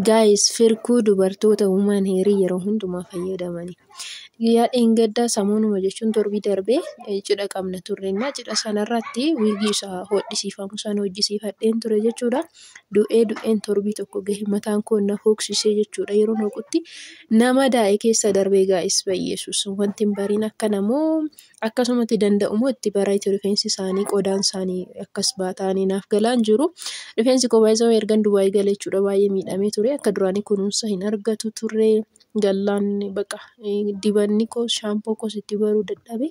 Guys firkuu dubartoota human heerii yeroo hundumaa fayyadamani. Guyyaa dheengaddaa samuunuma jechuun torbii darbee eh, cidha qabna turre innaa cidha sanarratti wiigii isa hodhisiifamu sana hojjisiifadheen ture jechuudha. Du'ee du'een torbii tokko gahe mataan koo na hooksisee jechuudha yeroo hooqutti nama daa'e keessa darbee gaa'is bayyeesus wanti hin bariin akkana moo akkasumatti danda'u moo itti bareechu rifeensi isaanii qodaan isaanii akkas baataanii naaf galaan jiru rifeensi koo baay'isoo ergan dubaayii galee jechuudha baay'ee miidhamee ture akka duraanii kunuunsa hin argatu ture gallaan baqa dibanni koo shaampoo koos itti baruu dadhabe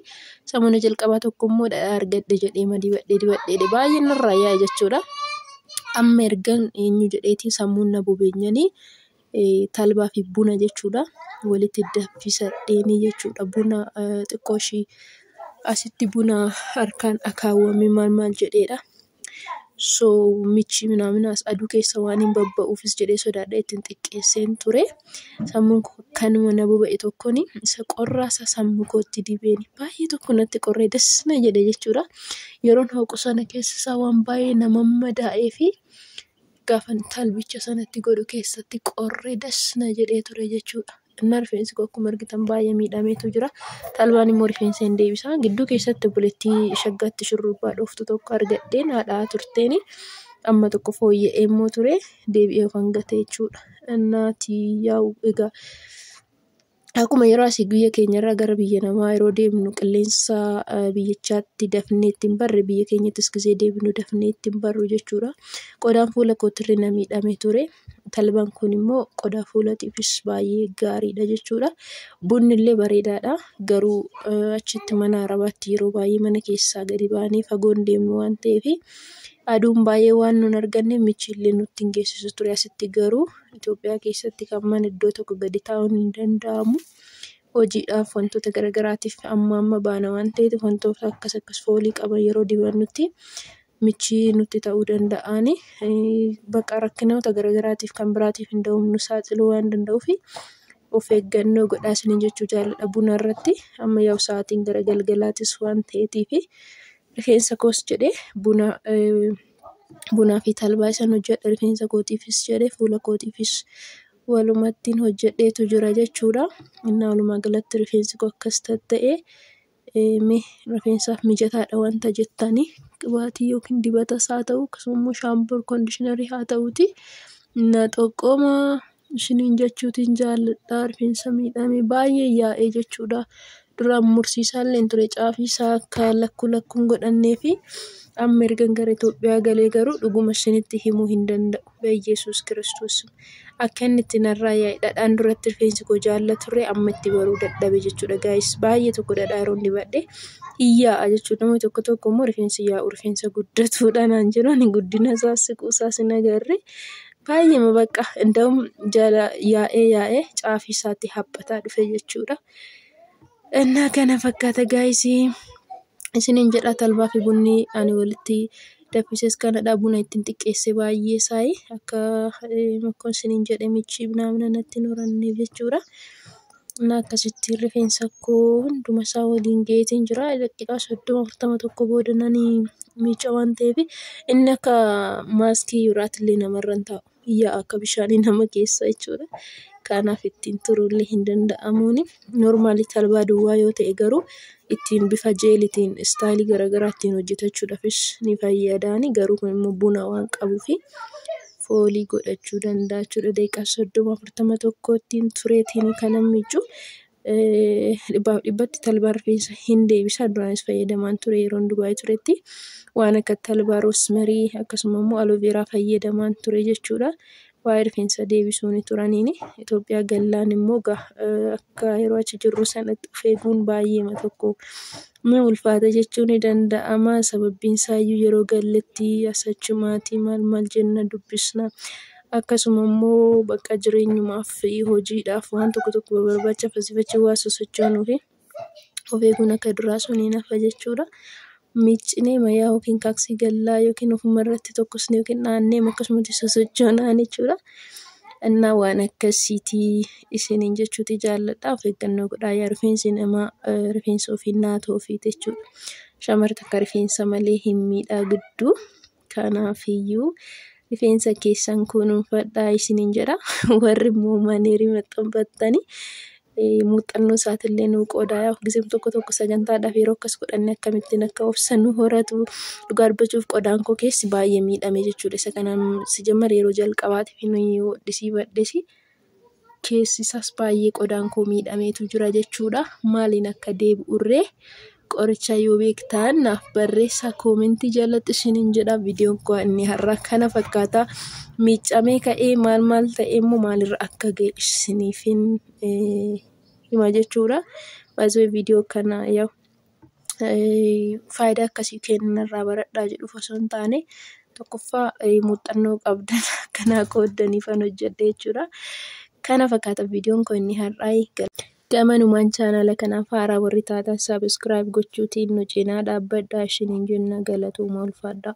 samuna jalqabaa tokko immoo dhadhaa argadhe jedhee ma dibadhee dibadheedhe baay'een irraa yaa'e jechuudha amma ergan eenyu jedheetii sammuun na bubeenyanii talbaa fi buna jechuudha. Walitti danfisa dheenii jechuudha. Buna xiqqoo ishii asitti buna harkaan akaawame maal maal jedheedha. So michi minaaminas aduu keessa waan hin babba'uufis jedhee sodaadhee ittiin xiqqeesseen ture. Sammuun koo kanuma na boba'e tokkoon isa qorraa isa sammuu kootti dibeen baay'ee tokko natti qorree das na jedhe jechuudha. Yeroon hooqu sana keessa isaa waan baay'ee nama madaa'ee fi gaafan talbicha sanatti godhu keessatti qorre das na jedhee ture jechuudha. Innaa rifeensi koo akkuma argitan baay'ee miidhameetu jira. Talbaan immoo rifeensa hin deebisa. Gidduu keessatti obboleettii shaggaatti shurrubbaa dhooftu tokko argadheen haadhaa turteen amma tokko fooyya'ee immoo ture deebi'ee ofan gate jechuudha. Innaatii yaa'u egaa. Akkuma yeroo asii biyya keenyarraa gara biyya namaa yeroo deemnu qilleensa biyyichaatti dafnee itti hin barre biyya keenyattis gizee deebinu dafnee itti hin barru jechuudha. Qodaan fuula kootirri na miidhamee ture. Talbaan kun immoo qodaa fuulatiifis baay'ee gaariidha jechuudha. Bunni illee bareedaadha. Garuu achitti mana arabaatti yeroo baay'ee mana keessaa gadi baanee fagoon deemnu waan ta'eef aduun baay'ee waan nun arganne michiillee nutti hin geessisu ture. Asitti garuu Itoophiyaa keessatti kan mana iddoo tokko gadi taa'uun hin danda'amu. Hojiidhaaf wantoota garaagaraatiif amma amma baana waan ta'eef wantoota akkas akkas foolii qaban yeroo dibannutti michii nutti ta'uu danda'ani. Bakka rakkinoota garaagaraatiif kan biraatiif nu saaxiluu waan danda'uuf of eeggannoo godhaa isiniin jechuu jaalladha buna irratti. Amma yaa'u sa'aatiin gara galgalaatis waan ta'eetiif rifeensa koos jedhee buna Bunaa fi talbaa isan hojjedhe rifeensa kootiifis jedhe fuula kootiifis walumattiin hojjedheetu jira jechuudha. Innaa walumaa galatti rifeensi koo akkas tatta'e mee rifeensaaf mijataadha wanta jettanii qibaatii yookiin dibatas haa ta'u akkasuma immoo shaampoo, kondiishinarii haa ta'uutii na xoqomaa. Isiniin jechuutiin jaalladha. Rifeensa miidhame baay'ee yaa'ee jechuudha. Duraan mursiisaalleen ture caafiisaa akka lakkuu lakkuun godhanneefi amma ergan gara Itoophiyaa galee garuu dhuguma isinitti himuu hin danda'u. Beyyesuus Kiristoos akka inni itti narraa yaa'e dhadhaan duratti rifeensi koo jaalla ture amma itti baruu dadhabe jechuudha gaayis. Baay'ee tokko dhadhaa yeroon dibadhe hin yaa'a jechuudha. Namoonni tokko tokko immoo rifeensi yaa'u rifeensa guddatuudha naan jedhu ani guddina isaas siquu isaas hin agarre. Baay'eema bakka inda'uun jala yaa'ee yaa'ee caafii isaatti haphataa dhufe jechuudha. Innaa kana fakkaata gaa'isii isiniin jedha talbaa fi bunni ani walitti danfises kanadha. Buna ittiin xiqqeesse baay'ee isaayi akka akkuma isiniin jedhe michiif naaf natti hin horanne jechuudha. Ani akkasitti rifeensa koo hunduma isaa waliin ga'eetiin jira. Daqiiqaa 30, 40 tokko booda nan miicca waan ta'eef, inni akka maaskii biraatti illee namarra hin taa'u. Yaa'a akka bishaanii nama keessa jechuu dha. Kanaaf ittiin turuu illee hin danda'amu. Normaali talbaa duwwaa yoo ta'e garuu ittiin bifa jeeliitiin istaayilii gara garaa ittiin hojjetachuudhaafis ni fayyada. Garuu kun immoo buna waan qabuufi. foolii godhachuu danda'a jechuudha. Daqiiqaa soddoma afurtama tokkotti tureetiin kan miicu dhibbaaf dhibbatti talbaa rifeensa hin deebisa. Duraanis fayyadamaan ture yeroon Dubaay turetti. Waan akka talbaa, roosmarii akkasuma immoo aloveeraa fayyadamaan ture jechuudha. Waa'ee rifeensa deebisuu ni turaniini. Itoophiyaa gallaan immoo akka yeroo achi jirru sanatti of eeguun baay'eema tokko Ni ulfaata jechuun ni danda'ama. Sababbiin isaa iyyuu yeroo galletti as achumaatii maal maal jenna dubbisna. Akkasuma immoo bakka jireenyumaaf, hojiidhaaf, waan tokko tokko barbaacha asii fi achi waan sosochoonuufi of eeguun akka duraa sun hin hafa jechuu dha. Miiccinee wayyaa yookiin taaksii gallaa yookiin ofuma irratti tokkosnee yookiin naannee akkasumatti sosochoonaa jechuu dha. Innaa waan akkasii ti. isiniin jechuuti jaalladha. Of eeggannoo godhaa yaa rifeensi namaa rifeensa ofii naatoo ofiiti jechuudha. Shamarri takka rifeensa malee hin miidhagdu. Kanaafiyyuu rifeensa keessan kunuunfadhaa isiniin jedha. Warri immoo maneerii maxxanfattanii muuxannoo isaatillee nuu qoodaa yaa giseen tokko tokko sagantaadhaaf yeroo akkas godhanne akkamittiin akka obsa nu horatu dhugaa dubbachuuf qodaan koo keessi baay'ee miidhame jechuudha. Isa kanaan sijammar yeroo jalqabaatiif nuyi hodhisii badhesi. keessi isaas baay'ee qodaan koo miidhameetu jira jechuudha. Maaliin akka deebi'urree qoricha yoo beektaan naaf barreessaa koomentii jalatti isiniin jedha. Viidiyoon koo inni har'aa kana fakkaata. Miicamee ka'ee maal maal ta'e immoo maalirra akka ga'e isiniifin hima jechuudha. Baay'ee viidiyoo kana yaa'u. faayidaa akkasii kennu narraa baradhaa jedhuuf osoo hin taane, tokkoffaa muuxannoo qabdan akka naa qooddaniifan hojjedhe jechuu dha. Kana fakkaata viidiyoon koo inni har'aa. Gamanumaan chaanaala kanaaf haaraa warri taatan subscribe gochuutiin nu cinaa dhaabbadhaa isiniin jenna galatooma ulfaadhaa.